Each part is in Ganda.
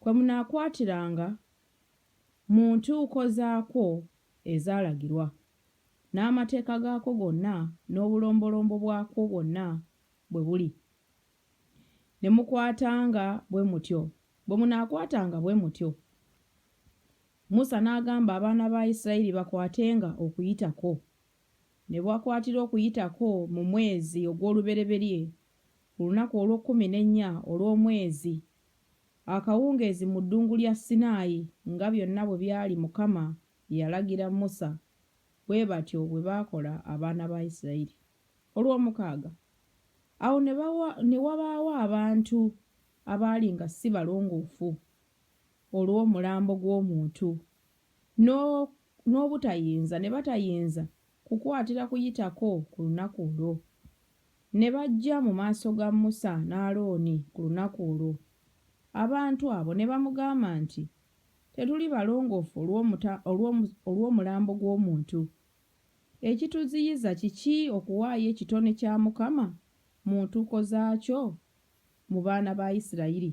Kwe munaakwatiranga mu ntuuko zaakwo ezaalagirwa, n'amateeka gaakwo gonna n'obulombolombo bwakwo bwonna bwe buli, ne mukwatanga bwe mutyo, bwe munaakwatanga bwe mutyo. Musa n'agamba abaana ba Isirayiri bakwatenga Okuyitako, ne bakwatira Okuyitako mu mwezi ogw'olubereberye, ku lunaku olw'okkumi n'ennya olw'omwezi Akawungeezi mu ddungu lya Sinaayi, nga byonna bwe byali Mukama bye yalagira Musa, bwe batyo bwe baakola abaana ba Isirayiri. Olwomukaaga. Awo ne bawa, ne wabaawo abantu abaali nga si balongoofu, olw'omulambo gw'omuntu, n'o, n'obutayinza, ne batayinza kukwatira Kuyitako ku lunaku olwo. Ne bajja mu maaso ga Musa ne Alooni ku lunaku olwo, abantu abo ne bamugamba nti, Tetuli balongoofu olw'omuta, olw'omu, olw'omulambo gw'omuntu. Ekituziyiza kiki okuwaayo ekitone kya Mukama mu ntuuko zaakyo mu baana ba Isirayiri?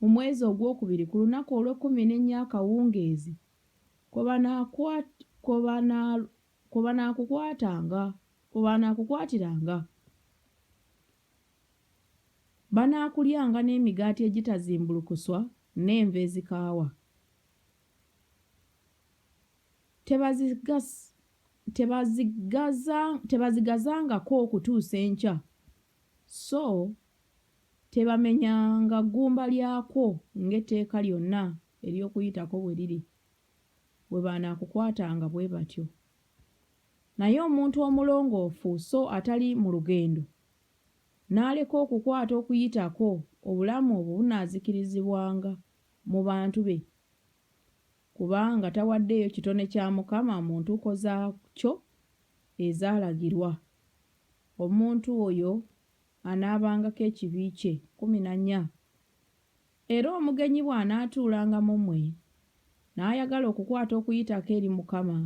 mu mwezi ogwokubiri ku lunaku olw'ekkumi n'ennya akawungeezi kwe banaakukwatiranga. Banaakulyanga n'emigaati egitazimbulukuswa n'enva ezikaawa. Tebazigazangako okutuusa enkya, So tebamenyanga ggumba lyakwo ng'etteeka lyonna ery'Okuyitako bwe liri, bwe banaakukwatanga bwe batyo. Naye omuntu omulongoofu so atali mu lugendo, n'aleka okukwata Okuyitako, obulamu obwo bunaazikirizibwanga mu bantu be. Kubanga tawaddeeyo kitone kya Mukama mu ntuuko zaakyo ezaalagirwa, omuntu oyo anaabangako ekibi kye. Kkumi na nnya, Era omugenyi bw'anaatuulanga mu mmwe, n'ayagala okukwata Okuyitako eri Mukama,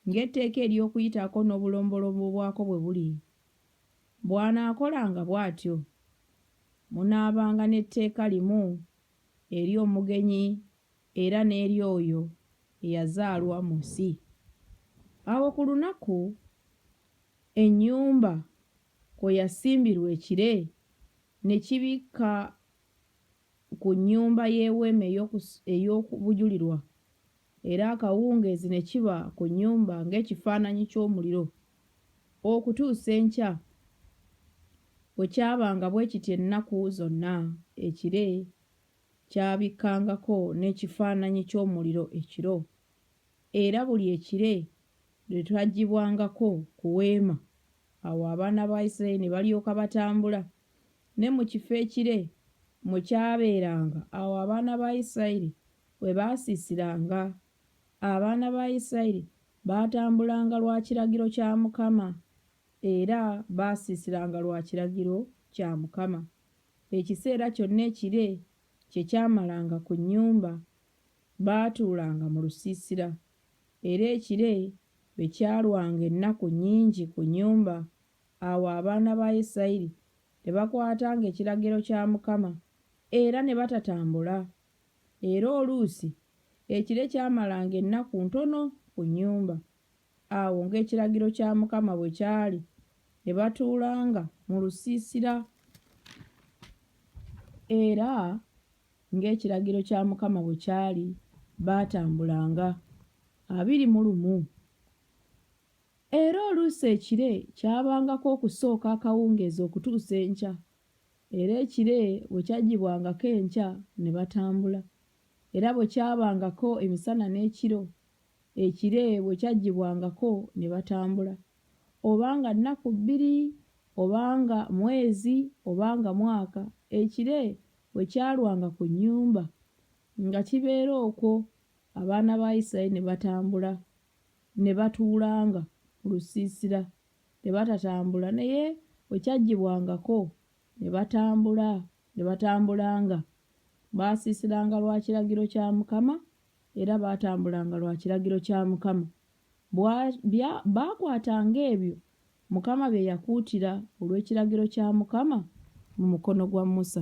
ng'etteeka ery'Okuyitako n'obulombolombo bwako bwe buli, bw'anaakolanga bw'atyo, munaabanga n'etteeka limu eri omugenyi era n'eri oyo eyazaalwa mu nsi. Awo ku lunaku ennyumba kwe yasimbirwa ekire ne kibikka ku nnyumba y'eweema ey'okubujulirwa, era akawungeezi ne kiba ku nnyumba ng'ekifaananyi ky'omuliro Okutuusa enkya, bwe kyabanga bwe kityo ennaku zonna, ekire kyabikkangako n'ekifaananyi ky'omuliro ekiro, era buli ekire lwe twaggyibwangako ku weema, awo abaana ba Isiraeri ne balyoka batambula, ne mu kifo ekire mwe kyabeeranga, awo abaana ba Isiraeri we baasiisiranga Abaana ba Isirayiri baatambulanga lwa kiragiro kya Mukama, era baasiisiranga lwa kiragiro kya Mukama. Ekiseera kyonna ekire kye kyamalanga ku nnyumba, baatuulanga mu lusiisira, era ekire bwe kyalwanga ennaku nnyingi ku nnyumba, awo abaana ba Isirayiri ne bakwatanga ekiragiro kya Mukama era ne batatambula era oluusi ekire kyamalanga ennaku ntono ku nnyumba. Awo ng'ekiragiro kya Mukama bwe kyali, ne batuulanga mu lusiisira, era ng'ekiragiro kya Mukama bwe kyali, baatambulanga abiri mu lumu. Era oluusi ekire kyabangako okusooka akawungeezi okutuusa enkya, Era ekire bwe kyaggyibwangako enkya ne batambula, era bwe kyabangako emisana n'ekiro, ekire bwe kyaggyibwangako ne batambula, oba nga nnaku bbiri, oba nga mwezi, oba nga mwaka, ekire bwe kyalwanga ku nnyumba, nga kibeera okwo, abaana ba Isirayiri ne batambula, ne batuulanga mu lusiisira ne batatambula, naye bwe kyaggyibwangako ne batambula, ne batambulanga, baasiisiranga lwa kiragiro kya Mukama, era baatambulanga lwa kiragiro kya Mukama. Bwa, bya, baakwatanga ebyo Mukama bye yakuutira olw'ekiragiro kya Mukama mu mukono gwa Musa.